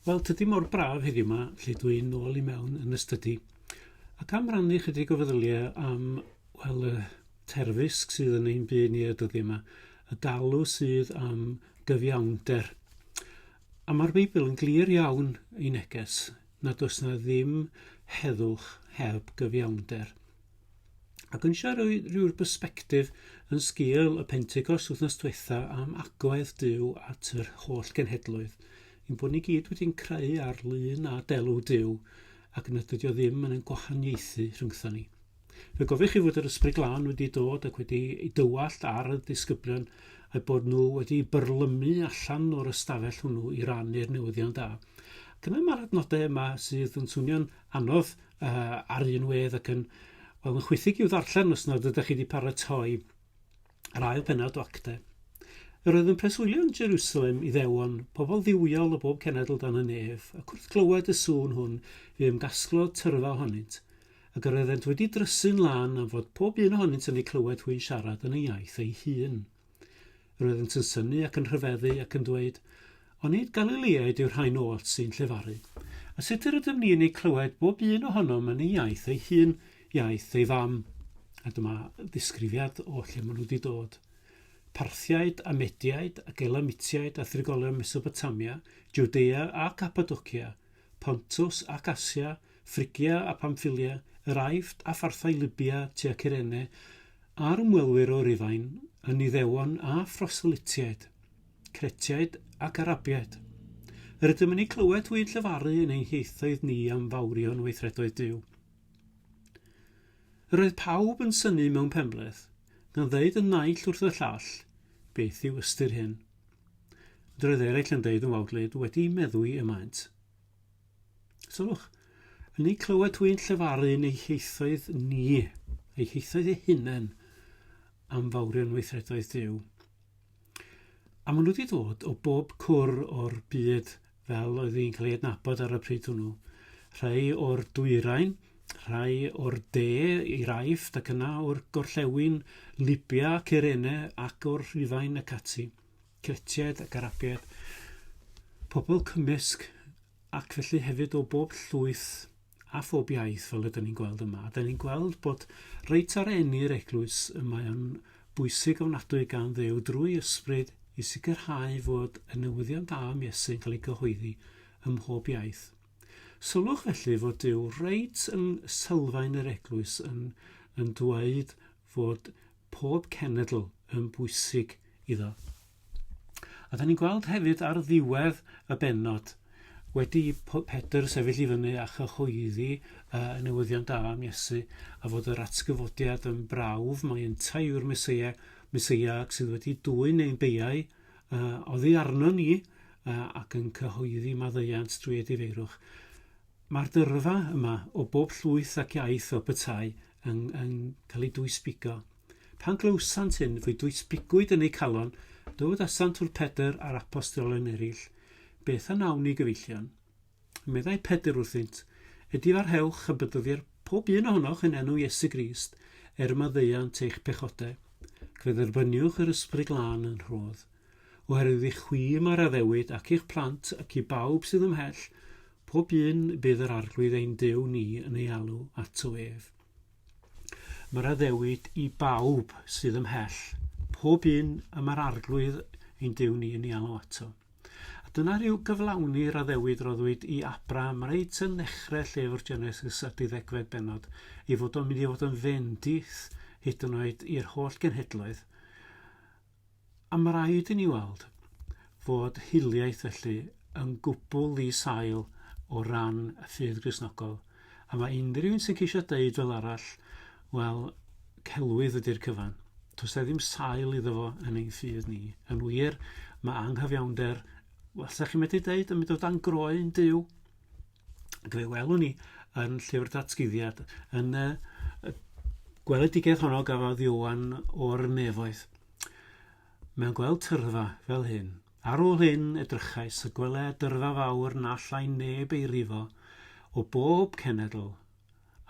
Wel, tydi mor braf heddiw yma, lle dwi nôl i mewn yn y stydi, ac am rannu chydig o feddyliau am, wel, y terfysg sydd yn ein byd ni y dyddi yma, y galw sydd am gyfiawnder. A mae'r Beibl yn glir iawn ei neges nad oes na ddim heddwch heb gyfiawnder. Ac eisiau rhoi rhyw'r bysbectif yn sgil y Pentecost wythnos diwetha am agwedd Dyw at yr holl genhedloedd, yn bod ni gyd wedi'n creu ar lun a delw Dyw, ac yn ydydio ddim yn ein gwahaniaethu rhyngthon ni. Fe gofio chi fod yr ysbryd glân wedi dod ac wedi ei dywallt ar y disgyblion a'i bod nhw wedi byrlymu allan o'r ystafell hwnnw i rannu'r newyddion da. Ac yna mae'r adnodau yma sydd yn swnio'n anodd uh, ar un wedd ac yn, wel, yn chwythig i'w ddarllen os nad ydych chi wedi paratoi yr ail penod o actau. Yr oedd yn preswylio yn Jerusalem i ddewon, pobl ddiwiol o bob cenedl dan y nef, a cwrth glywed y sŵn hwn, fi ymgasglo tyrfa ohonynt, ac yr oeddent wedi drysu'n lan am fod pob un ohonynt yn ei clywed hwy'n siarad yn ei iaith ei hun. Roeddynt yn synnu ac yn rhyfeddu ac yn dweud, Onid Galiliaid yw'r rhain oll sy'n llefaru? A sut yr ydym ni yn eu clywed bob un ohonom yn ei iaith ei hun, iaith ei fam? A dyma ddisgrifiad o lle maen nhw wedi dod. Parthiaid a Mediaid ac Elamitiaid a thrigolion Mesopotamia, Jwdea a Capadocia, Pontus ac Asia, Ffrigia a Pamffilia, yr Aifft a pharthau Lybia tua Cyrene, a'r ymwelwyr o Rufain, yn Iddewon a phroselytiaid, Cretiaid ac Arabiaid. Yr ydym yn eu clywed hwy'n llefaru yn ein hieithoedd ni am fawrion weithredoedd Duw. Yr oedd pawb yn synnu mewn penbleth, gan ddeud y naill wrth y llall, Beth yw ystyr hyn? Droedd eraill yn deud yn wawdlyd, wedi meddwi y maent. Sylwch, yn ei clywed twy'n llefaru yn ei heithoedd ni, ei heithoedd ei hunain, am fawrion weithredoedd Dyw. A maen nhw wedi dod o bob cwr o'r byd fel oedd hi'n cael ei adnabod ar y pryd hwnnw. Rhai o'r dwyrain, rhai o'r de i'r Aifft ac yna o'r gorllewin Libia, Cyrene ac o'r Rhufain ac ati, Cretiaid ac Arabiaid, pobl cymysg ac felly hefyd o bob llwyth a phob iaith fel ydyn ni'n gweld yma. Ydyn ni'n gweld bod reit ar enni'r eglwys y mae o'n bwysig ofnadwy gan ddew drwy ysbryd i sicrhau fod y newyddion da am Iesu'n cael ei gyhoeddi ym mhob iaith. Sylwch felly fod Dyw reit yn sylfaen yr eglwys yn, yn dweud fod pob cenedl yn bwysig iddo. A da ni'n gweld hefyd ar ddiwedd y benod, wedi Pedr sefyll i fyny a chyhoeddi uh, newyddion da am Iesu, a fod yr atgyfodiad yn brawf, mae yntau yw'r Mesoea, Mesoea sydd wedi dwyn ein beiau uh, oddi arno ni, uh, ac yn cyhoeddi maddeuant drwy edifeirwch. Mae'r dyrfa yma o bob llwyth ac iaith o bytai yn yn cael ei dwysbigo. Pan glywsant hyn, fe dwysbigwyd yn eu calon, dod a Santur Pedr a'r Apostolen eraill, Beth a wnawn ni, gyfeillion? Meddai Pedr wrthynt, Edifarhewch a bedyddier pob un ohonoch yn enw Iesu Grist, er y maddeuant eich pechodau. Cydderbyniwch yr Ysbryd Glân yn rhodd. Oherwydd i chwi mae'r addewid, ac i'ch plant, ac i bawb sydd ymhell, pob un bydd yr Arglwydd ein Duw ni yn ei alw ato ef. Mae'r addewid i bawb sydd ymhell, pob un y mae'r Arglwydd ein Duw ni yn ei alw ato. A dyna rhyw gyflawni'r addewid roddwyd i Abraham reit yn ddechrau llyfr Genesis a diddegfed benod, ei fod o'n mynd i fod yn fendith hyd yn oed i'r holl genhedloedd, A mae rhaid i ni weld fod hiliaeth felly yn gwbl ddi-sail o ran y ffydd Gristnogol, a mae unrhyw un sy'n ceisio deud fel arall, wel, celwydd ydy'r cyfan. Does e ddim sail iddo fo yn ein ffydd ni. Yn wir, mae anghyfiawnder, wel, sa chi'n medru deud, yn mynd o dan groen Duw. fe welwn ni yn llyfr datguddiad, yn y, y gweledigaeth honno gafodd Iwan o'r nefoedd. Mae'n gweld tyrfa fel hyn. Ar ôl hyn edrychais y gwele dyrfa fawr na allai neb ei rifo o bob cenedl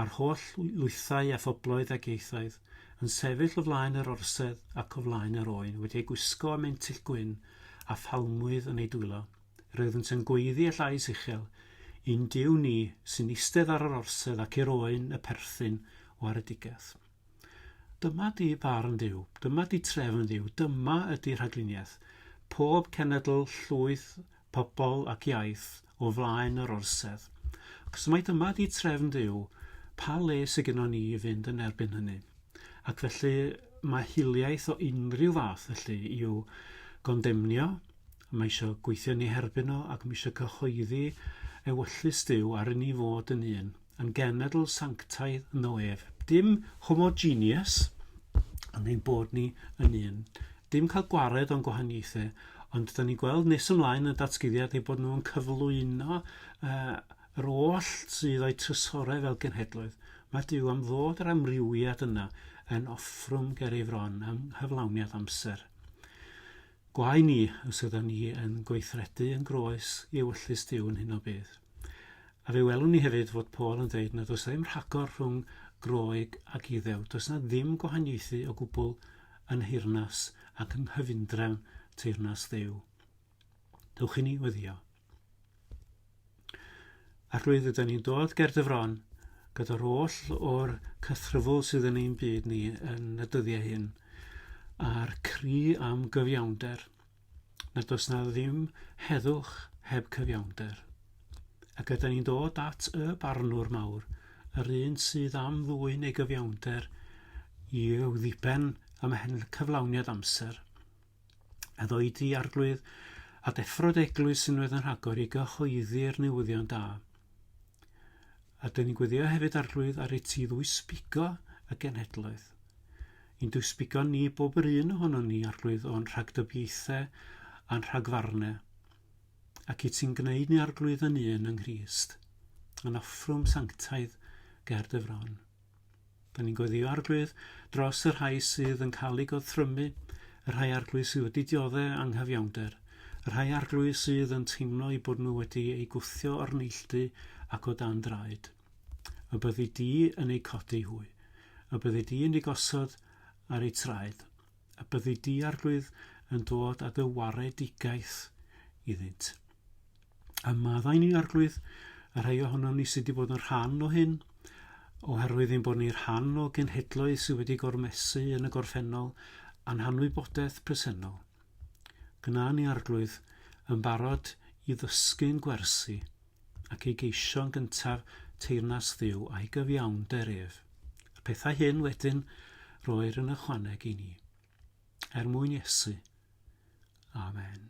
a'r holl lwythau a phobloedd ac ieithoedd, yn sefyll o flaen yr orsedd ac o flaen yr oen, wedi eu gwisgo â mentyll gwyn, a phalmwydd yn eu dwylo. Roeddynt yn gweiddi â llais uchel, I'n Duw ni, sy'n eistedd ar yr orsedd ac i'r oen y perthyn waredigaeth. Dyma di barn Dduw, dyma di trefn Dduw, dyma ydi rhagluniaeth. Pob cenedl, llwyth pobl ac iaith o flaen yr orsedd, achos mai dyma 'di trefn Duw, pa le sy gynnon ni i fynd yn erbyn hynny? Ac felly mae hiliaeth o unrhyw fath felly i'w gondemnio, mae eisiau gweithio ni herbyn o ac mae eisiau cyhoeddi ewyllys Duw ar i ni fod yn un. yn genedl sanctaidd yno ef. Dim homogeneous, ond ein bod ni yn un. Dim cael gwared o'n gwahaniaethau, ond da ni'n gweld nes ymlaen yn y datguddiad ei bod nhw'n cyflwyno uh, yr oll sydd o'i trysorau fel genhedloedd. Mae Dyw am ddod yr amrywiad yna yn offrwm ger ei fron am hyflawniad amser. Gwae ni os ydan ni yn gweithredu yn groes i ewyllys Duw yn hyn o beth. A fe welwn ni hefyd fod Paul yn dweud nad oes ddim rhagor rhwng Groeg ac Iddew, does na ddim gwahaniaethu o gwbl yn nheyrnas ac yng nghyfundrefn teyrnas Dduw. Dewch i ni weddio. A'r rwydd ydyn ni'n dod ger dy fron gyda'r oll o'r cythryfl sydd yn ein byd ni yn y dyddiau hyn, a'r cri am gyfiawnder, na does na ddim heddwch heb cyfiawnder. Ac ydyn ni'n dod at y barnwr mawr, yr un sydd am ddwy'n ei gyfiawnder i'w ddipen ymhen cyflawniad amser. a ddweud i Arglwydd a deffro'r eglwys unwaith yn rhagor i gyhoeddi'r newyddion da. A dyn ni'n gweddio hefyd Arglwydd ar ei ti ddwysbigo y genhedloedd. I'n dwysbigo ni bob yr un ohono ni Arglwydd o'n rhagdybiaethau a'n rhagfarnau ac i ti'n gwneud ni arglwydd yn un yng Nghyst, yn offrwm sanctaidd ger dy fron. Dan ni'n gweddïo Arglwydd dros y rhai sydd yn cael eu gorthrymu, y rhai Arglwydd sydd wedi dioddef anghyfiawnder, y rhai Arglwydd sydd yn teimlo eu bod nhw wedi eu gwthio o'r neilltu ac o dan draed. Y byddi di yn eu codi hwy. Y byddi di yn eu gosod ar eu traed. a byddi di arglwydd yn dod â dy waredigaeth iddynt. A maddau ni, arglwydd, y rhai ohonom ni sydd wedi bod yn rhan o hyn, oherwydd ein bod ni rhan o genhedloedd sydd wedi gormesu yn y gorffennol a'n hanwybodaeth presennol. Gna ni, arglwydd, yn barod i ddysgu'n gwersi, ac ei geisio'n gyntaf teyrnas Dduw a'i gyfiawnder ef. Y pethau hyn wedyn roer yn ychwaneg i ni. Er mwyn Iesu. Amen.